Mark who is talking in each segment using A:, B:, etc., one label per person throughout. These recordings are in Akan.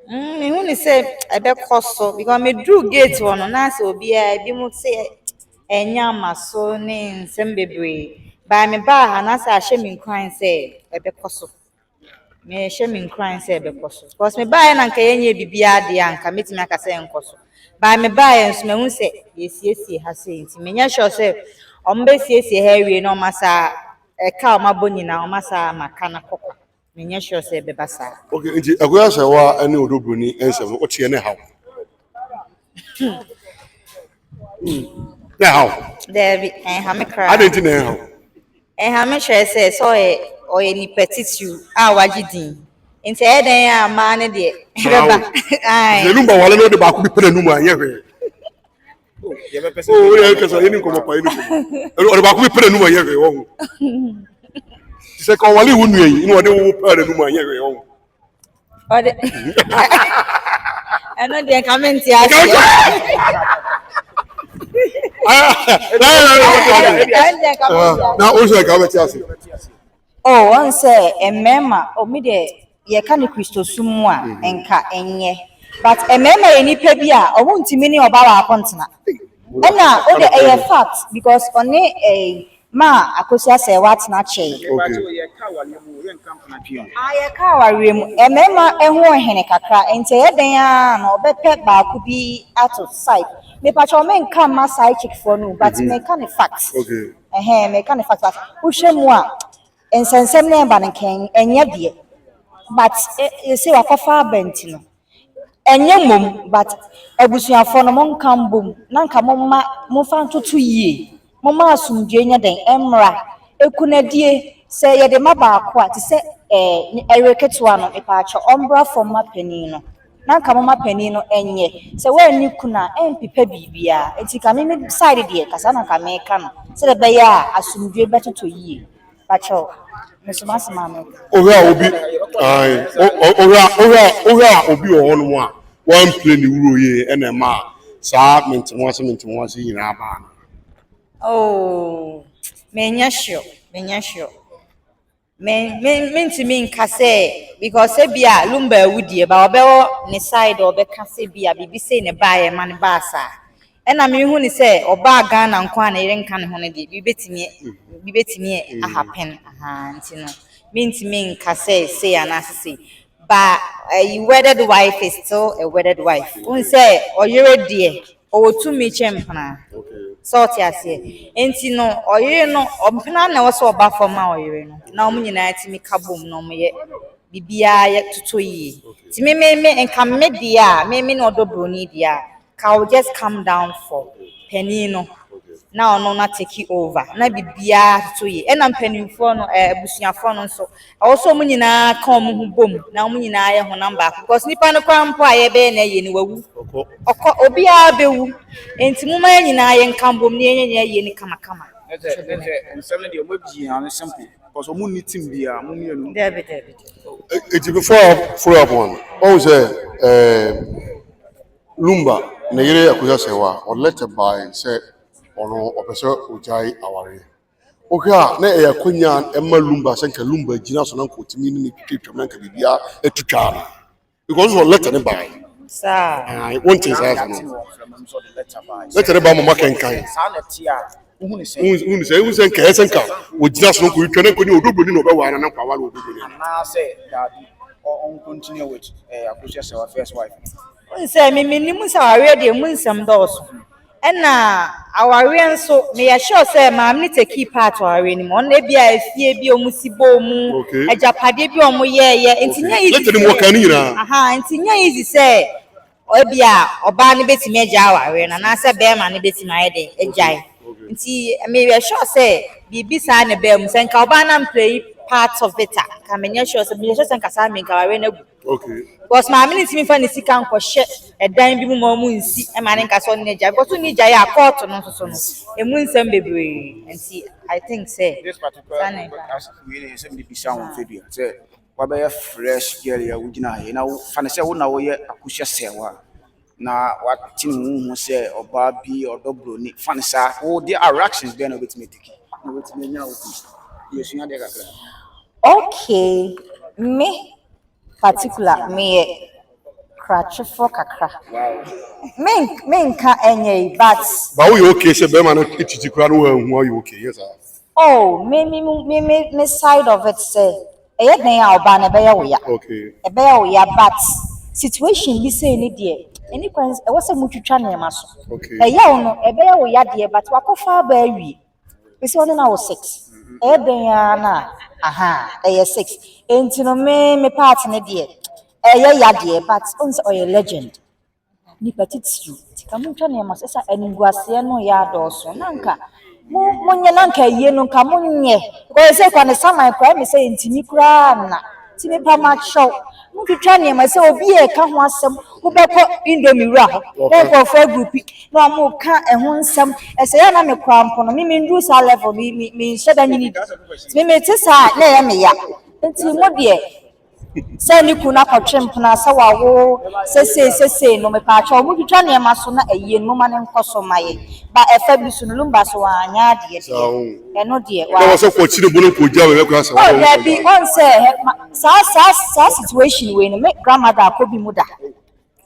A: Mm, mehu ne sɛ ɛbɛkɔ so because meduru gate hɔ no na sɛ obiara ebi mu sɛ ɛnya ama so ne nsɛm bebree baa me baa ha na sɛ ahyɛ me nkuran sɛ ɛbɛkɔ so mehyɛ me nkuran sɛ ɛbɛkɔ so because me baeɛ na nka yɛnyɛ biribiara deɛ a nka mɛtumi aka sɛ ɛnkɔ so baa me baeɛ nso mahu sɛ yɛsiesie ha sɛ nti menyɛ sure sɛ ɔmbɛsiesie ha awie na ɔma saa ɛka a ɔmabɔ nyinaa ɔma saa maka no kɔkɔ Menyɛ sure sɛ ɛbɛba saa. Okay, nti ɛkɔyɛ sɛ
B: wo a ne Odo Broni nsɛm no woteɛ ne haw. Na ɛhaw. Daabi, ɛnha
A: me koraa. Adɛn nti na ɛnhaw?
B: Ɛnha me
A: kyerɛ sɛ sɛ ɔyɛ ɔyɛ nipa titiriw a wagye din. Nti ɛyɛ dɛn a mmaa no deɛ ɛbɛba. Ae. Yɛnum ba wale na ɔde baako
B: bi pɛ n'anum a ɛnyɛ hwee. o yɛ kasa yɛ ni nkɔmɔ pa yɛ ni nkɔmɔ ɔdɔ baako bi pɛrɛ numu ayɛ hwɛ wɔn ho sɛ ka ɔwale wo nua yi na ɔde wo pɛrɛ numu ayɛ hwɛ wɔn ho. ɔde
A: ɛno deɛ nka me nte aseɛ
B: na o sɛ ka bɛ te aseɛ. o
A: wɔn sɛ mmarima omi deɛ. yɛka no Kristosom mu a, nka ɛnyɛ. But mmarima yɛ nnipa bi a ɔmo ntumi ne ɔbaa baako ntena. Ɛna o de ɛyɛ fact because ɔne ɛɛ maa Akosi Asɛɛwa atena kyɛɛ. Okay. Ah yɛka awareɛ mu. Mmarima ɛho hene kakra nti ɛyɛ dɛn ara na ɔbɛpɛ baako bi ato side. Mepakyɛw me nka mma side chick foɔ no o but meka no fact. Okay. Ɛhɛɛ meka
B: no fact but
A: wohwɛ mu a. Nsɛnsɛm no ɛba no kɛn ɛnyɛ deɛ but yɛsɛ wakɔfa aba nti no ɛnyɛ mmom but abusuafoɔ no monka mbom na nka momma momfa ntoto yie momma asomdwoeɛ nyɛ dɛn mmra ɛkunadie sɛ yɛde ma baako a te sɛ ɛɛ ɛyere ketewa no mepaakyɛw ɔmbra fam mma panin no. na nka moma panin no nyɛ sɛ wanni kunu a ɛmpepa biribiara nti nka me me side deɛ nka saa na nka meka no sɛdeɛ ɛbɛyɛ a asomdwoe bɛtotɔ yie pakyɛw meso m'asɛm a meka. Wohwɛ a obi
B: ae wohwɛ a wohwɛ a wohwɛ a obi wɔ hɔnom a wampire ne wuro yie ɛna ɛma saa mente ho ase mente ho ase yi nyinaa baa no. Oh
A: menyɛ sure menyɛ sure. Me me mentumi nka sɛ because ebi a lumba awu deɛ ba ɔbɛwɔ ne side ɔbɛka sɛ bi a biribi sei na ɛbaa yɛ ma no baa saa ɛna mehu ne sɛ ɔbaa Ghana nko a na yere nka ne ho no deɛ biribi bɛtumi biribi bɛtumi ahappen ahaa nti no mentumi nka sɛ sei anaasɛ sei ba a wedded wife is still a wedded wife wohu sɛ ɔyere deɛ. ɔwɔ tumi kyɛn mpena sɛ ɔte aseɛ nti no ɔyere no mpena na ɛwɔ sɛ ɔba fam ma ɔyere no na wɔn nyinaa tumi ka bom na wɔyɛ biribiara yɛ toto yie nti mememe nka me deɛ a meme na ɔdɔ buroni deɛ a ka o just calm down for panin no na ɔno na take over na biribiara toto yie ɛna mpanimfoɔ no ɛɛ eh, abusuafoɔ no nso Ɛwɔ sɛ wɔn nyinaa ka wɔn ho bom na wɔn nyinaa yɛ honam baako because nipa no kwan mpo a yɛbɛyɛ na ɛyɛ no wawu ɔkɔ obiara bɛwu nti mo ma yɛn nyinaa yɛn ka bom na yɛnyɛ nyɛ yɛ no kamakama. ɛsɛ ɛsɛ
C: nsɛm no deɛ wɔn abie ano simple because wɔn nni team biara wɔn mmienu. Dabi dabi.
A: Eti
B: before follow up wɔn wɔn sɛ ɛɛ lumba ne yere akusa sɛ wa ɔlɛtɛ baa sɛ ɔno ɔpɛ sɛ ɔgyae awareɛ. Wohwɛ a na ɛyɛ akɔnya ɛma lumba sɛ nka lumba gyina so na nka ɔtumi ne ne twitwa twam na nka biribiara atu twaa no because wɔ lɛtɛ ne bae saa
A: wonte saa
B: sɛ no lɛtɛ ne ba mama kɛnkan
C: wohunu
B: sɛ wohu sɛ nka ɛyɛ sɛ nka ɔgyina so na nka ɔtwa na nka ɔne ɔdɔdɔni na ɔbɛwaa no na nka awale ɔdɔdɔni anaasɛ daabi
C: ɔnkontinue with eh, akosua sɛ wa first wife Wohu sɛ me
A: menim sɛ awareɛ deɛ mu nsɛm dɔɔso ɛna awareɛ nso meyɛ sure sɛ maame no te key part awareɛ no mu ɔno ebi a efie bi a wɔn si bɔɔ mu agyapadeɛ bi a wɔn yɛɛyɛ nti nyɛ easy
B: sɛ nti nyɛ easy
A: sɛ ebi a ɔbaa no betumi agya awareɛ no anaasɛ bɛrima no betumi ayɛ dɛ agyae nti meyɛ sure sɛ biribi saa na ɛbaa mu sɛ nka ɔbaa no ampere part of it a nka menyɛ sure sɛ meyɛ sure sɛ nka saa meyɛ nka awareɛ no agu. Because
B: maame no ntumi
A: nfa ne sika nkɔhyɛ ɛdan bi mu ma ɔmo nsi ɛma ne nka sɛ ɔne n'agya because ɔne gya yɛ a court no nso so no emu nsɛm bebree nti I think sɛ. This
C: particular podcast wei na ɛsɛ mi bisa wɔn fɛ bi a sɛ wabɛyɛ fresh girl yi a wogyina ha yi na wofa ne sɛ wo na woyɛ akuhyɛ sɛɛwa. na wate ne ho ho sɛ ɔbaa bi ɔdɔ buroni fa no saa wo de reactions bɛn na wobɛtumi atiki na wobɛtumi anya wo bi yɛsua deɛ kakra
A: okay me particular meyɛ krakyefoɔ kakra menka ɛnyɛ yi but ba woyɛ okay sɛ
B: bɛrima no titi koraa no wɔahu ɔyɛ okay yes ah. Oh me
A: me me me me side of it sɛ ɛyɛ dɛn a ɔbaa no ɛbɛyɛ wo ya okay ɛbɛyɛ wo
B: ya but
A: situation bi sɛ ne deɛ ɛni kwan ɛwɔ sɛ motwitwa nneɛma so okay ɛyɛ wo no
B: ɛbɛyɛ
A: wo ya deɛ but wakɔfa aba awie ɛsɛ ɔne na wo sex mm-hmm. ɛyɛ dɛn a na aha ɛyɛ sex ɛnti no me me part ne deɛ ɛyɛ ya deɛ but ɔn sɛ ɔyɛ legend Nnipa titiriw, sika mu ntwa nneɛma sɛ sɛ animguaseɛ no yɛ adɔɔso na nka mo monyɛ na nka ayie no nka monyɛ because sɛ kura ne saman kura mi sɛ ntumi koraa nna ti mi pa ma kyɛw mo twitwa nneɛma sɛ obi yɛ ɛka ho asɛm wobɛkɔ indomie wura hɔ na nkurɔfoɔ agurupi na wɔn reka ɛho nsɛm ɛsɛ yɛ na me kura mpo no mi mi nduru saa level mi mi mi nhyɛ da nyini bi ti mi mi te saa na ɛyɛ mi ya nti mo deɛ. sɛ ne kunu akɔtwe mpena sɛ wawo sesei sesei no mepaakyɛ ɔmo twitwa nneɛma so na ayie no moma no nkɔ so ma yɛ ba ɛfa bi so no lumba so wanyɛ adeɛ deɛ ɛno deɛ wa ɛna wɔsɛ kɔ kyiri bono kɔ
B: gya wɔ ɛbɛkora sɛ oh daabi ɔn sɛ
A: saa saa saa situation wei no me grandmother akɔ bi mu da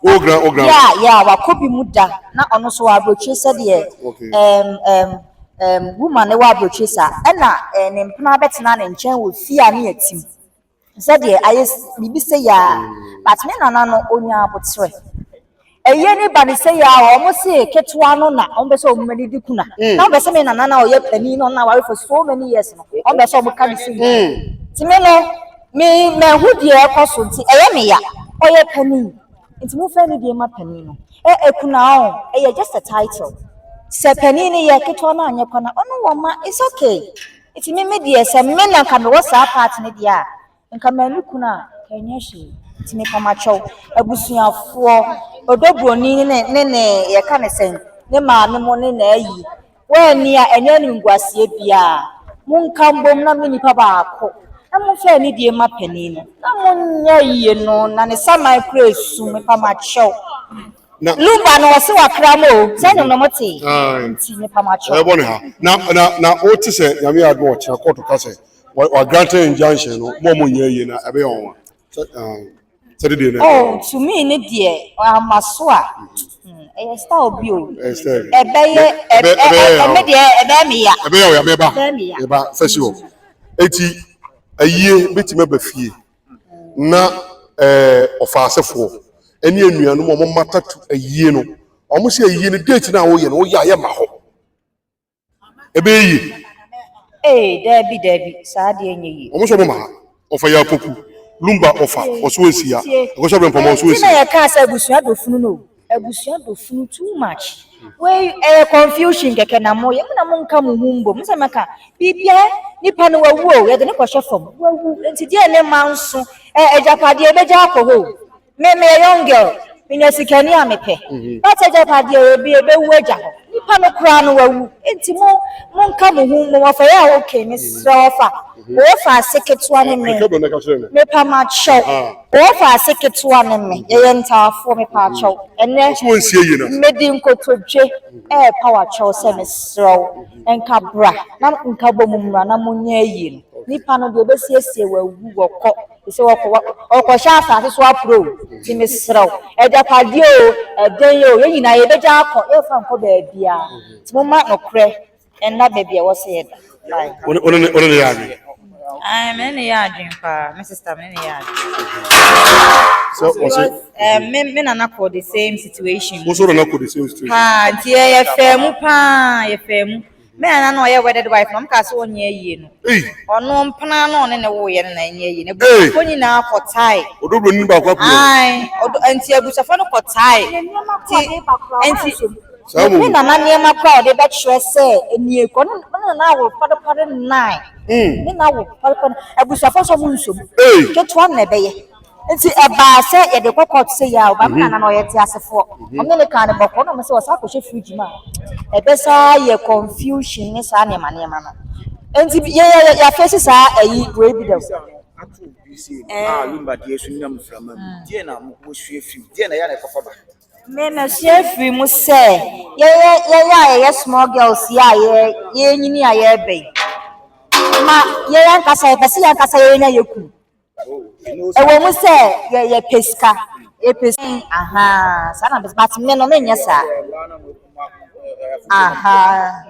A: oh grand oh
B: grand yeah yeah wakɔ bi mu
A: da na ɔno so wɔ aburokyire sɛdeɛ okay um, um, um, woman ne wɔ aburokyire saa ɛna eh, ne mpena bɛtena ne nkyɛn wɔ fie a ne yɛtim Sɛdeɛ ayɛ biribi sei a but me nana no ɔnya aboterɛ ɛyɛ ne ba no sei a wɔn se ketewa no na wɔn bɛ sɛ wɔn mani di kuna mm. na wɔn bɛ sɛ me nana na ɔyɛ panin na ɔna aware for so many years no wɔn mm. bɛ sɛ wɔn ka ne sei mm. ti me no me mɛhu deɛ ɛkɔ so nti ɛyɛ me ya ɔyɛ panin nti mo fɛ ne deɛ ma panin no ɛ ɛkuna ɔn ɛyɛ just a title sɛ panin no yɛ ketewa no anyɛ kwana ɔno wɔn ma it's okay. Nti me me deɛ sɛ me na nka mewɔ saa part no deɛ a nka manu kunu a nka ɛnyɛ hwee nti mepɛ makyɛw abusuafoɔ ɔdɔ buroni ne ne ne ne yɛka ne sɛn ne maame mo ne n'ayi wɔanni a ɛnyɛ animguaseɛ biara monka mbom na me nipa baako na momfa anidie mma panin no na monyɛ yie no na ne saman koraa ɛsum mepɛ makyɛw na luba no ɔse wakra mu o sɛ nom nom te nti mepa mo akyerɛ ɛbɔ ne ha na
B: na na o te sɛ nyame yɛ adom ɔkyena kɔɔto ka sɛ wa grant injunction no mo ɔmo nyɛ yie na ɛbɛyɛ wɔn wa sɛ de deɛ na oh
A: to me ne deɛ ama so a ɛyɛ style bi o ɛbɛyɛ ɛmɛ deɛ ɛbɛyɛ me ya ɛbɛyɛ o ya mɛba
B: mɛba fɛsi hɔ eti ayie betumi aba fie na ɛɛ ɔfaasefoɔ ɛne anuanom wɔn mata tu ayie no wɔn sɛ ayie no date no a woyɛ no woyɛ a yɛ ma hɔ ɛbɛyɛ yie Ee, daabi, daabi,
A: saa deɛ nyɛ yie. wɔn sɛ wɔn ma ha
B: wɔfa yɛ apoku lumba wɔfa wɔso nsia ɛkɔsɛ abirɛmpɔma wɔso Nti na nsia yɛkaa sɛ abusua dɔ
A: funu no o. Abusua dɔ funu too much. Wei ɛyɛ confusion kɛkɛ na mo yɛ mo na mo nka mo ho mbom. Mo sɛ mɛka bibia nipa no wawu o yɛde ne kɔhyɛ fam wawu nti deɛ ne ma nso ɛ agyapadeɛ ebegya akɔ hɔ o. Me meyɛ young girl menya sikani a mepɛ mhm. but agyapadeɛ ebi ebewu agya hɔ nipa no koraa no wawu nti mo mo nka mo ho mbom ɔfɛ yɛ a okay mesrɛ ɔfa Wɔfa ase ketewa ne me. Mepamakyɛw. Wɔfa ase ketewa ne me. Yɛyɛ ntaafoɔ. Mepaakyɛw. Ɛnɛ, medi
B: nkotodwe
A: repa w'akyɛw sɛ mesrɛ wo, nka bra na nka bɔ mu mmra na monyɛ ayi no. Nnipa no deɛ wɔbɛsiesie wɔawu wɔkɔ. Ɛsɛ wɔkɔ wɔkɔhyɛ asase so apuro o. Nti mesrɛ wo, agyapadeɛ o, ɛdɛn o, yɛn nyinaa yɛbɛgya akɔ. Yɛmfa nkɔ baabiara. Nti momma nokorɛ Ɛnna baabi a wɔsɛ yɛ da. Wo ne ne yɛ
B: adwene? Ae, me ne ne yɛ
A: adwene paa, me sista me ne ne yɛ adwene.
B: So wɔsɛ. Ɛɛ me me nana
A: kɔ the same situation. Wo so nana kɔ the same
B: situation. Paa nti yɛ yɛ
A: fɛɛ mu paa yɛ fɛɛ mu. Me nana na ɔyɛ wedded wife na ɔmo kaa sɛ ɔnyɛ yie no. Ei. Ɔno mpena na ɔne ne woyɛ no na ɛnyɛ yie. Ebusuafo nyinaa kɔ tae. Ɔdɔ bro ni baako apɛ.
B: Ae, ɔdɔ nti
A: abusuafo no kɔ tae. Nti nti. Yɛpɛ Nana nneɛma koraa a ɔde bɛkyerɛ sɛ nie kɔ. Ɔne ɔne Nana awo pɔdepɔde nnan. Mm. Ne na awo pɔdepɔde. Abusuafo nso ɔmo nsom. Hey. Ketewa no na ɛbɛyɛ. Nti ɛbaa sɛ yɛde kɔ court sɛ yɛ a ɔbaa mi Nana no ɔyɛ teasefoɔ. Ɔmo ne ne kaa ne bɔkɔɔ na ɔmo sɛ ɔsan akɔhyɛ fridge mu a ɛbɛsaa yɛ confusion ne saa nneɛma nneɛma no. Nti bi- yɛ yɛ yɛ yɛafeesi saa ɛyi wei bi dɛw. ato obi sei no Eh. a yɛmma
C: deɛ so nyam mframa mu deɛ na mo wɔsua firi mu deɛ na ɛyɛ na ɛkɔfa ba Me masua
A: afiri mu sɛ yɛyɛ yɛyɛ a yɛyɛ small girls yi a yɛ yɛnyini a yɛreba yi ma yɛyɛ ankasa yɛpɛ sɛ yɛ ankasa yɛnya yɛ kunu ɛwɔ mu sɛ yɛ yɛpɛ sika yɛpɛ sika ahaa saa na bɛsɛ bate me no menyɛ saa ahaa.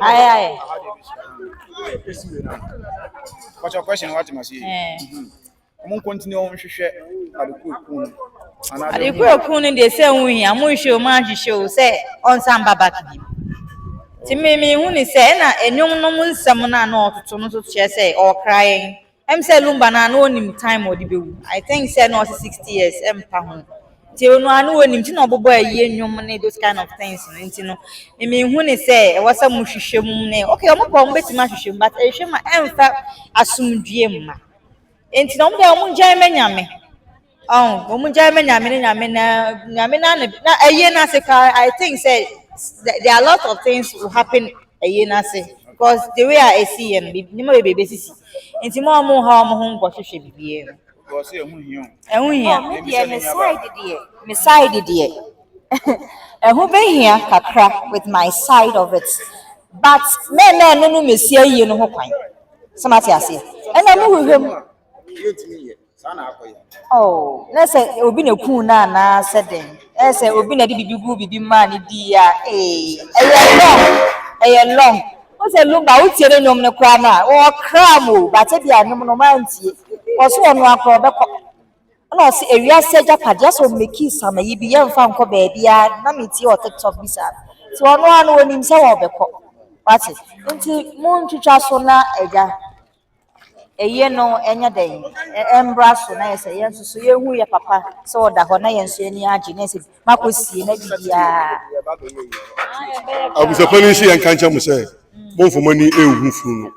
A: Aye, aye.
C: What's your question? What must you? Eh. Ọmụ continue ọmụ nhwehwɛ adekwu ekwu no. Anaa de Adekwu
A: ekwu no deɛ sɛ ɛho hia mo nhwɛ o maa nhwehwɛ o sɛ ɔnsa mba back bi. Nti me mehu ne sɛ ɛna nnwom no mu nsɛm no a na ɔtoto no nso kyerɛ sɛ ɔkra yɛn. Ɛm sɛ lumba no a na ɔnim time a ɔde bɛwu I think sɛ na ɔse 60 years ɛmpa ho nti ɔno a na ɔnim nti na ɔbobɔ ayie nnwom ne those kind of things no nti no memehu ne sɛ ɛwɔ sɛ mo hwehwɛ mu ne ok ɔmo pɛ ɔmo bɛtumi ahwehwɛ mu but ɛhwɛ ma ɛmfa asomdwie mma nti na ɔmo deɛ ɔmo gyae ma nyame. Ɔho wɔn gyae ma nyame ne nyame na nyame na ne na ɛyɛ n'ase paa I think sɛ there are lots of things will happen ɛyɛ n'ase because the way a esi yɛ no biribi nneɛma bebree besisi nti mo a mo ha wɔn ho nkɔ hwehwɛ biribiara mu. Because sɛ ɛho hia o.
C: Ɛho hia.
A: Me deɛ me side deɛ me side deɛ ɛho behia kakra with my side of it but mɛmɛ ɛno no mesi ayie no ho kwan sɛ ma te aseɛ ɛna mo hwehwɛ mu. saa na akɔ yɛ. Oh, na sɛ obi na kuu no anaa sɛ dɛn? Ɛyɛ sɛ obi na de biribi guu biribi maa ne dii a, ee, ɛyɛ long, ɛyɛ long. Wo sɛ Lumba, wotie ne nnwom no koraa no a, wɔkraa mo o, bate bi a nnwom no mantie. Ɔso ɔno akorɔ ɔbɛkɔ. Ɛna ɔse ewiase agyapadeɛ asɛ ɔmmɛkii sama yi bi yɛmfa nkɔ baabiara na metie wɔ TikTok bi saa. Nti ɔno ara no onim sɛ ɔbɛkɔ. Wate? Nti montwitwa so na agya. Ɛyɛ no ɛnyɛ dɛn? Ɛmbra so na yɛsɛ yɛn nso so yɛhu yɛ papa sɛ ɔda hɔ na yɛn nso yɛn ani agye na yɛsɛ makɔ sie na biribiara.
B: Abusafo no nhyɛ yɛn ka nkyɛn mo sɛ mo nfa mo ani nhu funu no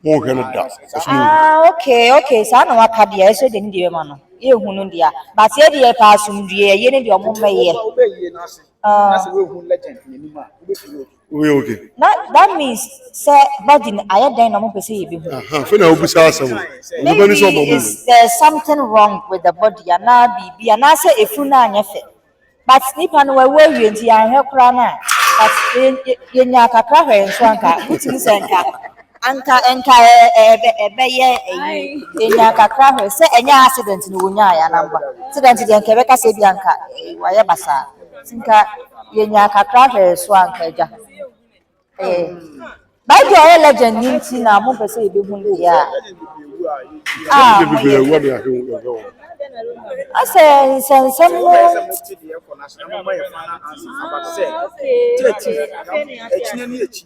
B: mo nhwɛ no da ɛso mo. Ah okay
A: okay saa na waka deɛ ɛso deɛ ne deɛ bɛma no yɛhu no deɛ but yɛ deɛ paa asomdwie ɛyɛ ne deɛ ɔmo mmɛyɛ. Ah.
C: Woyɛ
B: okay. Na that means
A: sɛ body no ayɛ dɛn na ɔmo pɛ sɛ yɛbɛ hu. Aha fɛ na obisa asɛm
B: o. Onipa ni sɛ ɔbɔ ɔmo hu.
A: Maybe there's something wrong with the body anaa biribi anaasɛ efunu no anyɛ fɛ but nipa no wawu awie nti yɛanhwɛ koraa no a but yɛ yɛnyaa kakra hwɛɛ nso a nka wotumi sɛ nka. Anka anka ɛbɛyɛ ɛyi enya kakra hwɛ sɛ ɛnyɛ accident no wonya ya na mba accident deɛ nka ɛbɛka sɛ bi anka wayɛ basaa nka yenya kakra hwɛ so anka agya ɛɛ by the ɔyɛ legend ni nti na mo pɛ sɛ ebi hu ne yɛ a ah mo yɛ asɛ nsɛnsɛm no okay okay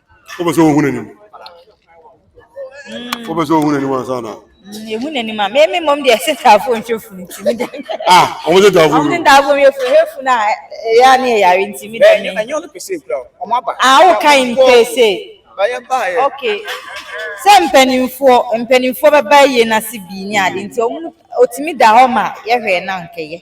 A: Wopɛ
B: sɛ wohu n'anim? Mm. Wopɛ sɛ wohu n'anim ansa na? Mm, yɛhu n'anim a.
A: Meme mmom deɛ ɛsɛ taafo nhwɛ funu nti me dɛ. Ah, wɔn sɛ taafo.
B: Wɔn sɛ taafo yɛ funu, yɛ
A: funu a ɛyɛ a ne yɛ yare nti me dɛ. Ɛnyɛ ɛnyɛ ɔno pese kura
C: wɔn aba. Ah, woka yi mpese.
A: Bayɛ bayɛ. Okay. Sɛ mpanimfoɔ mpanimfoɔ bɛba yie n'ase bii ne ade nti wɔn otumi da hɔ ma yɛhwɛ na nkɛyɛ.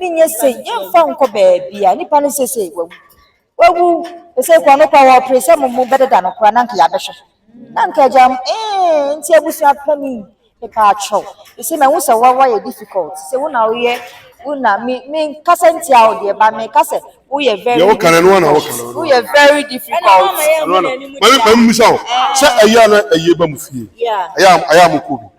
A: Ne nyɛ sei yɛmfa nkɔ baabia nipa no sesei wawu wawu sesei kɔ no kɔ wɔpere sɛ mo mo bɛdeda no kora na nka yɛabɛhwɛ na nka agya m ee nti abusua pani mepa atwɛw ɛsɛ mahu sɛ wawa yɛ difficult sɛ wo na woyɛ wo na me me kasa ntia wo deɛ ba me kasa woyɛ very deɛ woka no ɛno ana woka no woyɛ very difficult ɛno ana mami
B: mami misa wo sɛ ɛyɛ ana ɛyɛ ba mu fie ɛyɛ ɛyɛ a mo kɔ bi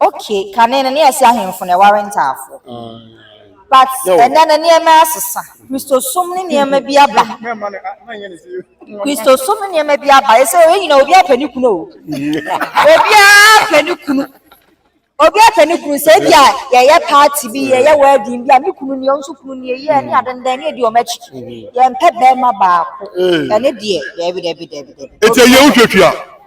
C: Okay
A: kane no na yɛse ahemfo na ɛware ntaafoɔ but ɛnɛ no nneɛma asesa kristosom ne nneɛma bi aba kristosom ne nneɛma bi aba ɛsɛ yɛn nyina obi apɛ ne kunu o obiara apɛ ne kunu obi apɛ ne kunu sɛ bi a yɛyɛ party bi yɛyɛ wedding bi a me kunu ni ɔno nso kunu ni eyi ɛne adendan ne edi wɔn akyi yɛmpɛ bɛrima baako ɛne deɛ dɛbi dɛbi dɛbi dɛbi. eti ɛyɛ
B: wohwɛ fia